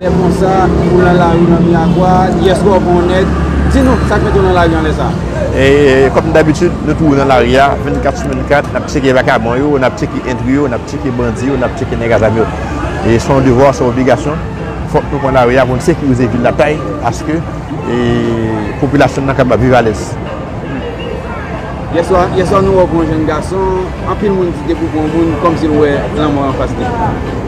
Lè konsa, ou nan lari nan Miyagwa, yes ou bon nèg, di nou sak mete w nan lari an lè sa? Kòm dabitid, nou toujou nan lari a, 24 sou 24, n ap tcheke vakabon yo, n ap tcheke entri yo, n ap tcheke bandi yo, n ap tcheke nèg a zam yo. Se yon devwa, se yon obligasyon. Fòk nou pran lari a pou n sekirize vil la kay aske popilasyon nan kapab viv alèz. Yèswa nou wè w pran yon jenn gason, anpil moun di depi w pran yon moun kòmsi l wè lanmò anfas li.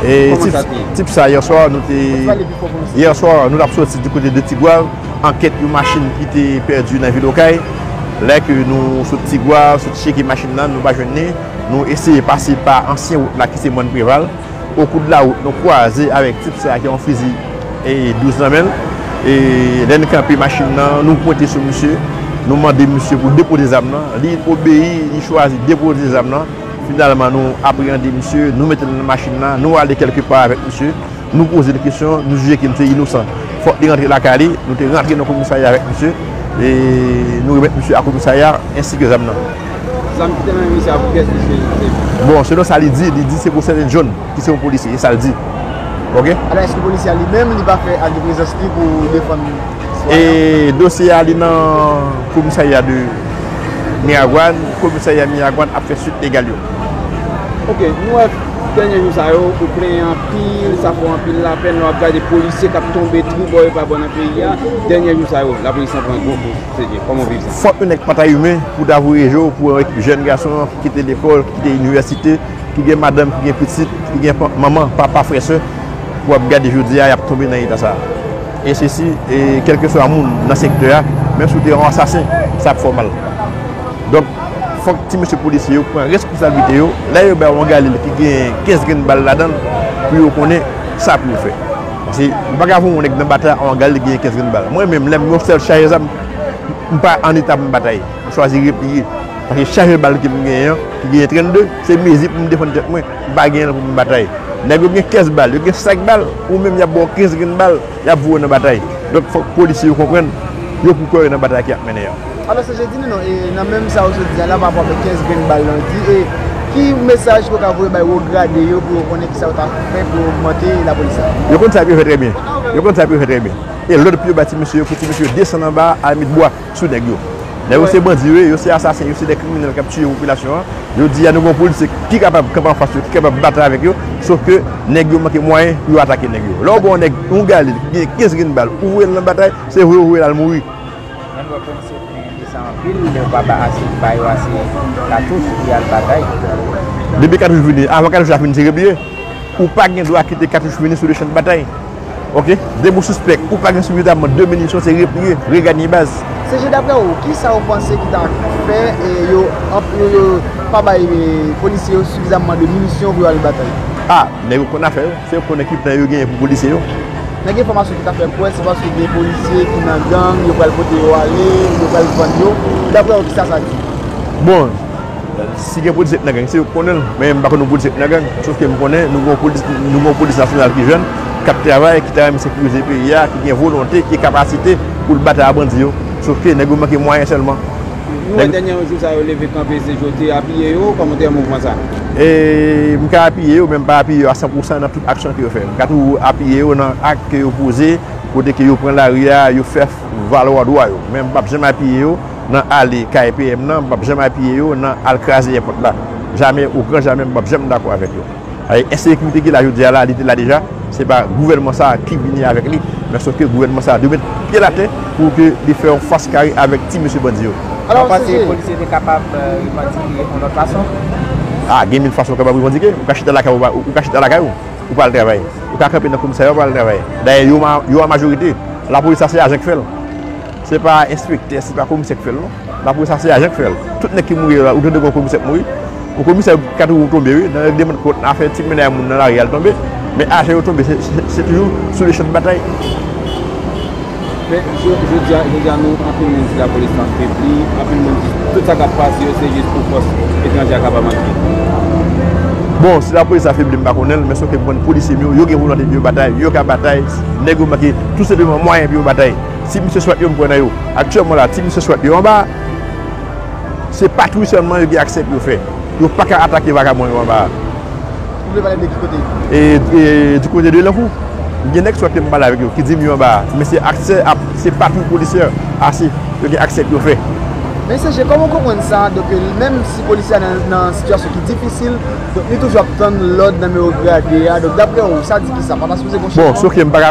Kòman sa te ye? Tip sa yèswa nou te. Pale pi fò pou nou site l. Yèswa nou t ap soti di kote de Tigwav an kèt yon machin ki te pèdi nan vil Okay. Lè ke nou sot Tigwav, sot cheke machin nan nou pa jwenn li, nou eseye pase pa ansyen wout la ki se Mòn Preval. O kou de la wout nou kwaze avèk tip sa ki yon fizi 12 nan menl e lè n kanpe machin nan nou pwente sou misye nou mande misye pou depoze zam nan li obeyi li chwazi depoze zam nan finalman nou apreyande misye nou mete l nan machin nan nou ale kèlke pa avèk misye nou poze l kesyon nou jije ke misye inosan fòk li rantre lakay li nou te rantre nan komisarya avèk misye e nou remèt misye a komisarya ensi ke zam nan. Zam ki te nan men misye a pou kiyès misye te sèvi? Bon, selon sa li di, li di se pou Sèjant John ki se yon polisye, e sa l di. Ok. Alò èske polisye a li menm li pa fè ak de prezans li pou defann sitwayen an? E dosye a li nan komisarya de Miragwàn, komisarya Miragwàn ap fè suit legal yo. Ok, nou wè dènye jou sa yo ou plenyen anpil, sa fè w anpil lapèn lè w ap gade polisye k ap tonbe twou bò e pa bò nan peyi a, dènye jou sa yo lapolis lan pran gwo koz. Fòk yon nèg pa ta imen pou ta voye je w pou yon ekip jèn gason ki kite lekòl, ki kite inivèsite, ki gen madanm, ki gen pitit, ki gen manman, papa, frè, sè, pou ap gade jodi a y ap tonbe nan eta sa a. E se si kèlkeswa moun nan sektè a, menm si w te yon ansasen, sa ap fè w mal. Donk, fòk ti mesye polisye yo pran responsablite yo, lè yo bay yon galil ki gen 15 grenn bal ladan l, pou yo konnen sa pou yo fè. Paske ou paka voye yon nèg nan batay an gade li genyen 15 grenn bal. Mwen menm lèm gen yon sèl chajè zam m pa an eta pou m batay. M chwazi repliye. Paske chajè bal ke m genyen an ki genyen 32 se mezi pou m defann tèt mwen. M pa genyen l pou m batay. Nèg yo gen 15 bal, yo gen 5 bal, ou menm y ap ba w 15 grenn bal, y ap voye w nan batay. Donk fòk polisye yo konprann yo pou kò yo nan batay ki ap mennen an. Alò se jodi nou non e nan menm sa ou sot di a la pa rapò avèk 15 grenn bal lan di e ki mesaj ke w ka voye bay wo grade yo pou yo konnen kisa yo ta fè pou yo ogmante lapolis la? Yo konn sa pou yo fè trè byen. Yo konn sa pou yo fè trè byen. E lòd pou yo ba ti mesye yo pou ti mesye yo desann anba a al met bwa sou nèg yo. Nèg yo se bandi yo ye, yo se asasen, yo se de kriminèl k ap tiye popilasyon an. Jodi a nou gen yon polis ki kapab kanpe anfas yo, ki kapab batay avèk yo, sof ke nèg yo manke mwayen pou yo atake nèg yo. Lè w ba yon nèg yon galil ki gen 15 grenn bal ou voye l nan batay, se vwe ou voye l al mouri. Nan lwa prensip men de sa anpil lè yo pa ba ase ba yo ase katouch pou yal batay. Depi katouch vini avan katouch la fin tire bie ou pa gen dwa kite katouch vini sou le chan de batay ok depi ou sispèk ou pa gen sifizamman de minisyon se replie reganye baz. CG daprè ou kisa ou panse ki ta fè yo yo pa bay polisye yo sifizamman de minisyon pou yo al batay. Ah nèg yo konn afè yo se yo konnen ki plan yo genyen pou polisye yo. Nan gen enfòmasyon ki ta fè kwè se paske gen polisye ki nan gang, yo pral pote yo ale, yo pral vann yo. Daprè ou kisa sa di? Bon, si gen polisye ki nan gang se yo ki konnen l. Men m pa konn yon polisye ki nan gang. Sof ke m konnen nou gen yon polis nasyonal ki jèn, k ap travay, ki ta renmen sekirize peyi a, ki gen volonte, ki gen kapasite pou l batay a bandi yo. Sof ke nèg yo manke mwayen sèlman. Nou wè dènyè yon jou sa yo leve kanpe se Jouthe apiye yo, kòman w te wè mouvman sa? M ka apiye yo men m pa apiye yo a san pou san nan tout aksyon ke yo fè. M ka toujou apiye yo nan ak ke yo poze kote ke yo pran lari a, yo fè valwa dwa yo. Men m p ap janm apiye yo nan ale kay PM nan, m p ap janm apiye yo nan al kraze èpòt la. Jamè, ogranjamè m p ap janm dakò avèk yo. Paske ensekirite ki te la jodi a la, li te la deja, se pa gouvènman sa a ki vini avèk li, men sòf ke gouvènman sa a dwe met pye l atè pou ke li fè yon fas kare avèk ti mesye bandi yo. Ou panse polisye te kapab revandike yon lòt fason? A, gen mil fason ou kapab revandike. Ou ka chita lakay ou, ou ka chita lakay ou, ou pa al travay. Ou ka kanpe nan komisarya ou pa al travay. Dayè yo an majorite. Lapolis la se ajan ki fè l. Se pa enspektè, se pa komisè ki fè l non. Lapolis la se ajan ki fè l. Tout nèg ki mouri yo la, ou tande gen yon komisè ki mouri? Bon komisè kat wou tonbe wi, nan règleman de kont, nan afè ti mennaj moun nan lari a l tonbe. Men ajan yo tonbe se toujou sou le chan de batay. Men jodi a, jodi a nou anpil moun di lapolis lan febli, anpil moun di tout sa k ap pase yo se jis pou fòs etranje a kapab antre. Bon si lapolis la febli m pa konnen l, men sa w fè konprann polisye m yo, yo gen volonte pou yo batay, yo ka batay, nèg yo manke tou senpleman mwayen pou yo batay. Ti misye swat yo m kwè nan yo. Aktyèlman la ti misye swat yo anba a se patwouy sèlman yo gen aksè pou yo fè. Yo pa ka atake vakabon yo anba a. Ou vle pale de ki kote? Du kote de Lankou. M gen nèg swat ke m pale avèk yo ki di m yo anba a men se aksè a se patwouy polisyè ase yo gen aksè pou yo fè. Mesye je kòman w konprann sa a donk menm si polisye a nan sitiyasyon ki difisil donk li toujou ap tann lòd nan men ogradè a donk daprè ou sa di kisa pa ta sipoze gon changman? Bon, se ok m pa ka.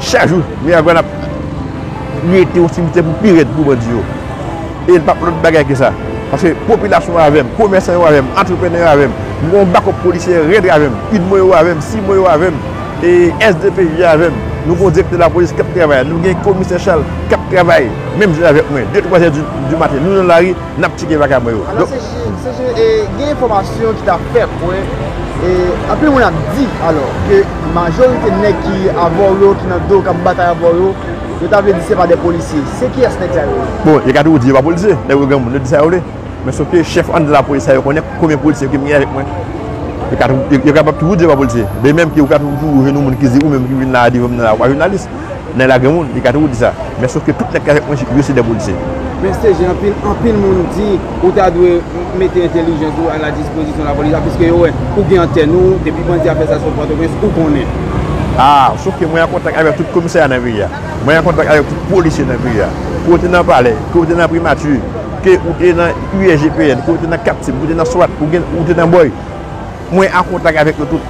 Chak jou, Miragwàn ap rete yon simitè pou pi rèd pou bandi yo. E l pa p lòt bagay ke sa. Paske popilasyon an avè m, komèsan yo avè m, antreprenè yo avè m, m gen yon bakòp polisyè rèd avè m, udmo yo avè m, cimo yo avè m, SDPJ a avè m, nou gen yon direktè lapolis k ap travay, nou gen komisè Chal k ap travay menm jan avèk mwen. De twazè di maten, nou nan lari Nap tcheke bagay mwen yo. Alò se je e gen enfòmasyon ki ta fè kwè e anpil moun ap di alò ke majorite nèg ki avè w yo ki nan do w kap batay avè w yo, yo ta vle di se pa de polisye. Se kiyès nèg sa yo ye? Bon yo ka toujou di yo pa polisye. Nèg yo granmoun yo di sa yo vle. Men sof ke chèf anndan lapolis sa yo konnen konbyen polisye ki mnye avèk mwen. Yo kapab toujou di yo pa polisye. De menm ke ou ka toujou jwenn yon moun ki di ou menm ki vin la devan m nan la ou pa jounalis. Nan la gen moun, li ka toujou di sa. Men sof ke tout nèg ki avèk mwen yo se dè polisye. Men CG, anpil, anpil moun di ou ta dwe mete entelijans ou a la dispozisyon la polis la piske yo wè ou gen antèn ou, depi bandi a fè sa sou Pòtoprens, ou konnen. A, sof ke mwen an kontak avèk tout komisarya nan peyi a. Mwen an kontak avèk tout polisye nan peyi a. Ke ou te nan palè, ke ou te nan primati, ke ou te nan USGPN, ke ou te nan Captiv, ke ou te nan swat, ou te nan boy. Mwen an kontak avèk yo tout.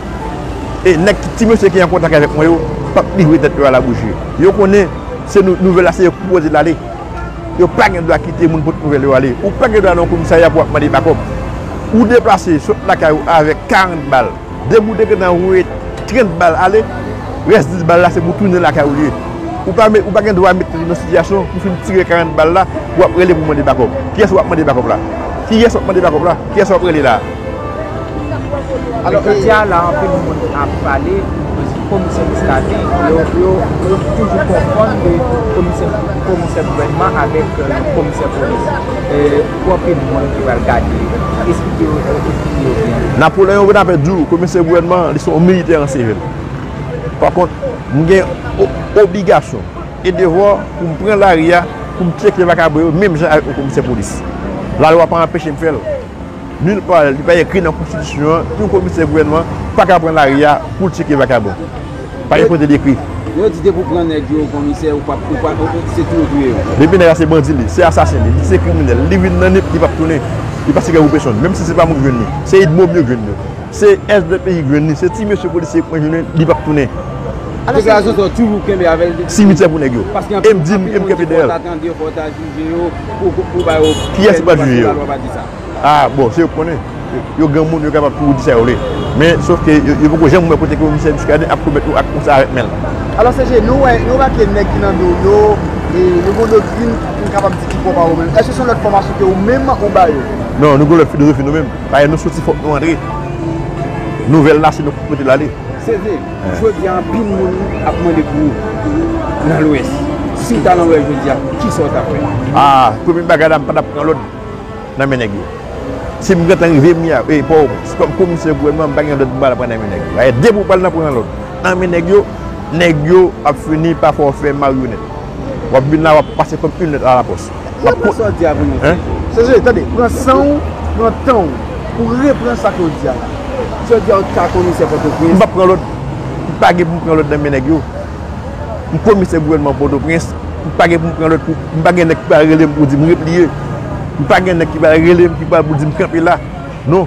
E nèg ki, ti mesye ki an kontak avèk mwen yo, p ap livre tèt yo a la bouji. Yo konnen, se nou, nouvèl la se yo ki pwopoze l ale. Yo pa gen dwa kite moun pot nouvèl yo ale. Ou pa gen dwa nan yon komisarya pou w ap mande bakòp. Ou deplase, sot lakay ou avèk 40 bal. Depi ou te gentan voye 30 bal ale, rès 10 bal la se pou tounen lakay ou li ye. Ou pa met, ou pa gen dwa mete tèt ou nan sitiyasyon pou w fin tire 40 bal la, w ap rele pou w mande bakòp. Kiyès w ap mande bakòp la? Kiyès w ap mande bakòp la? Kiyès w ap rele la a? Alò jodi a la anpil moun ap pale komisè Miskaden yo toujou konfonn de komisè gouvènman avèk komisè polis pou anpil moun ki pral gade esplike yo esplike yo byen. Napoleon Bonaparte di w komisè gouvènman li se yon militè an sivil. Pa kont m gen obligasyon e devwa pou m pran lari a pou m tcheke vakabon yo menm jan avèk yon komisè polis. Lalwa pa anpeche m fè l. Nul part li pa ekri nan konstitisyon an yon komisè gouvènman pa ka pran lari a poul tcheke vakabon. Pa gen kote li ekri. Yo di depi w pran nèg yo komisè ou pap ou pa se tou ou touye yo. Depi nèg la se bandi li se asasen li li se kriminèl li vin nan nip li pap tounen li pa siga pou pèsonn menm si se pa mwen k jwenn li se idmo m yo k jwenn yo se svp ki jwenn li se ti mesye polisye k mwen jwenn li pap tounen. Deklarason sa w toujou kenbe avèl depi. Simityè pou nèg yo. Paske anpil moun di konn di pòt a tande pòt a. Jye yo pou ba yo pyès pou paske la lwa pa di sa. Ah bon se yo ki konnen. Yo granmoun yo kapab pou di sa yo vle. Men sof ke yo poko janm wè kote ke Misye Muscadin ap komèt yon ak konsa avèk men l. Alò CG, nou wè nou remake nèg ki nan do w yo, yo gen yon doktrin pou m kapab di ki pwòp a ou menm. Èske se yon lòt fòmasyon ke ou menm ou ba yo? Non, nou gen yon lòt filozofi nou menm. Payè nou soti fòk nou antre. Nouvèl la se nou ki pou pote l ale. CG. Jodi a anpil moun ap mande pou ou nan lwès. Si w ta nan lwès jodi a, kisa w t ap fè? A, premye bagay la m pa t ap pran lòd nan men nèg yo. Si m gentan rive m ya, e Pòwopwens, kòm komisè gouvènman m pa gen lòd pou m al pran nan men nèg yo. Ayè depi w pral nan pran lòd nan men nèg yo, nèg yo ap fini pa fè w fè maryonèt. W ap vin la w ap pase kòm yn lèt a la pòs. Map pran sa w di a pou nou se. Sese, tande, pran san w, pran tan w pou repran sa ke w di a la. Si yo di a w ta komisè Pòtoprens. M pap pran lòt. M pa gen pou m pran lòt nan men nèg yo. M komisè gouvènman Pòtoprens. M pa gen pou m pran lòt pou. M pa gen nèg ki pral rele m pou di m repliye. M pa gen nèg ki pral rele m ki pral pou di m kanpe la. Non.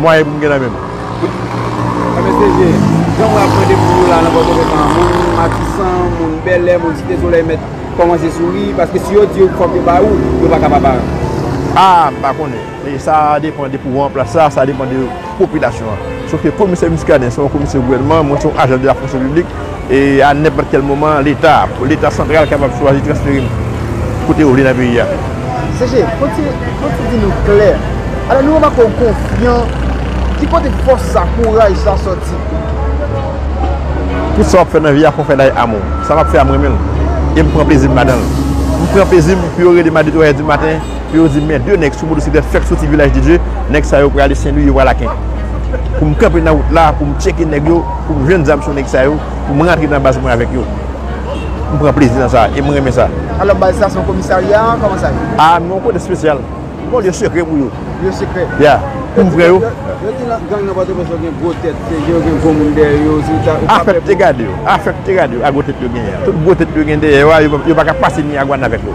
Mwayen pou m gen la menm. Mwen mesye je jan mwen ap mande pou nou la nan pòtoprens lan moun matisan moun bèlè moun site solèy mèt kòmanse souri paske si yo di yo fòk yo bay ou yo paka pa bay ou. A m pa konnen e sa depan de pouvan an plas la sa depan de popilasyon an sof ke komisè Muscadin se yon komisè gouvènman mwen se yon ajan de la fonksyon piblik e a nenpòt kèl moman leta, leta santral kapab chwazi transfere m kote yo vle nan peyi a. CG, fòk ti di nou klè, alò nou remake w konfyan, ki kote fòs sa, kouraj sa sòti? Tout sa w ap fè nan vi a, fò w fè l avèk amou. Sa m ap fè a m renmen l e m pran plezi m ladan l. M pran plezi m pou yo rele m a 2, 3 è di maten, Pou yo di men 2 nèg sou motosiklèt fèk soti Vilaj de Dye, nèg sa yo prale Senlwi yo pral aken. Pou m kanpe nan wout la pou m tcheke nèg yo, pou m jwenn zam sou nèg sa yo, pou m rantre nan baz mwen avèk yo. M pran plezi nan sa e m renmen sa. Alò baz sa se yon komisarya kòman sa ye? A nou yon kote spesyal. Nou yon lye sekrè pou yo. Lye sekrè? Ya. Pou m frè yo. Yo di nan gang nan Pòtoprens yo gen gwo tèt, se yo gen gwo moun dèyè yo, si ou ta, ou pa pè pou. Afèk te gade yo, afèk te gade yo a gwo tèt yo genyen an. Tout gwo tèt yo gen dèyè yo a, yo pa ka pase Miyagwàn avèk yo.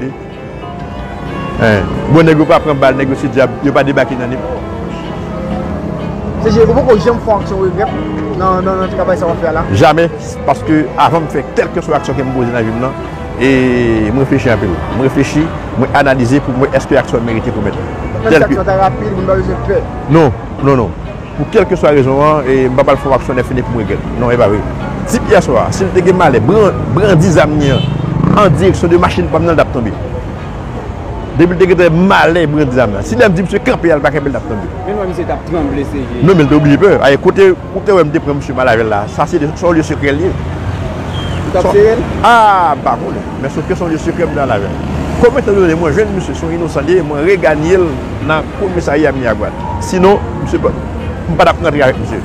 Li Hein Bon nèg yo pa pran bal nèg yo se dyab yo pa debake nan nip. CG ou poko janm fè yon aksyon ou regrèt nan travay sa wap fè a la? Jamè, paske avanm fè kèlkeswa aksyon kem poze nan vim nan e m reflechi anpil. M reflechi, mwen analize poum wè èske aksyon an merite pou mèt li. Menm si aksyon an ta rapid moun pa bezwen pè. Non, non non. Pou kèlkeswa rezon an, m pa pral fè yon aksyon nèfini pou m regrèt. Non, e pa vre. Tip yè swa a, si l te gen malè brandi zam li an an direksyon de machin pa m nan, l t ap tonbe. Depi l te gen malè brandi zam la, si lè m di misye kanpe al pa kanpe l t ap tonbe. Men m wè misye t ap tranble se vye. Non, men l te oblije pè. Aye, kote ou te wè m te pran misye mal avè l la, sa se yon lye sekrè l ye. Ou t ap sere l? A! M pa konnen. Men sofke se yon lye sekrè m te al avè l. Kòm etan done mwen jwenn misye se yon inosan li ye, mwen reganye l nan komisarya Miragwàn. Sinon, msye pa, m pa tap rantre avèk msye.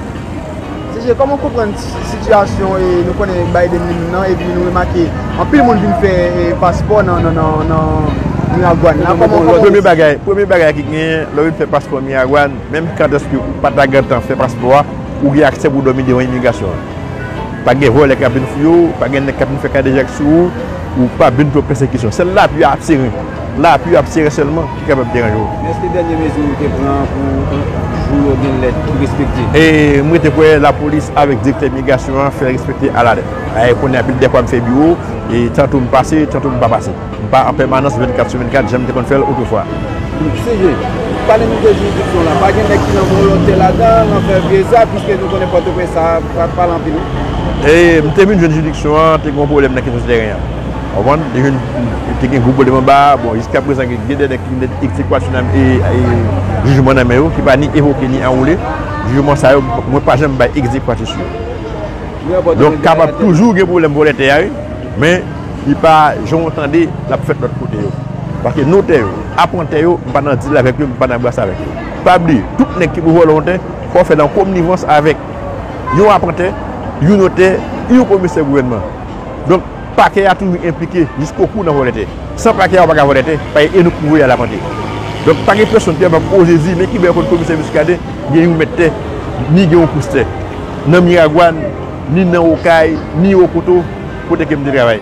CG, Kòman ou konprann sitiyasyon nou konnen Biden li menm nan epi nou remake anpil moun vin fè paspò nan Miragwàn la? Kòman ou konprann sa? Premye bagay, premye bagay ki genyen lè ou vin fè paspò Miragwàn, menm kantèske ou pa ta gentan fè paspò a, ou gen aksè pou dòmi devan imigrasyon an. Pa gen vòlè kap vin fouye ou, pa gen nèg kap vin fè kadejak sou ou, ou pap vin pran pèsekisyon. Sèl lapli a ap seren. Lapli yo ap sere sèlman ki kapab deranje w. Men èske dènye mezi yo te pran an pou jou yo gen lèt ki respekte? E m rete kwè lapolis avèk direktè migrasyon an fè l respekte alalèt. E kounye a pi dèfwa m fè biwo, e tanto m pase, tanto m pa pase. M pa an pèmanans 24 sou 24 jan m te konn fè l otrefwa. CG, Pale nou de jiridiksyon w lan. Pa gen nèg ki nan volontè ladan an, nan fè vye zak, piske nou konnen Pòtoprens sa pa pale anpil wi? E m te vin jwenn jiridiksyon an te gen yon pwoblèm nan kesyon tèren an. Konprann? Li vin te gen gwo pwoblèm anba a. Bon, jiska prezan gen gen dè nèg ki vin gen ekzekwa sou nan e jijman nan men yo ki pa ni evoke ni anwoule. Jijman sa yo mwen pa janm bay ekzekwati sou yo. Donk kapab toujou gen pwoblèm vòlè tè a wi. Men li pa jan w tande l ap fèt lòt kote yo. Paske notè yo, apantè yo m pa nan dil avèk yo, m pa nan bras avèk yo. Pa bliye, tout nèg ki pou vòlè yon tè fò w fè l an konnivans avèk yon apantè, yon notè, yon komisè gouvènman. Donk, Pakè a toujou enplike jiskokou nan vòlè tè. San Pakè a ou pa ka vòlè tè, Pakè e nou k voye al apante. Donk, pa gen pèsonn ki ap ap oze di men ki bèl kot Komisè Muscadin gen yon mèt tè, ni gen yon pous tè. Nan Miragwàn, ni nan Okay, ni Okoto, kote ke m te travay.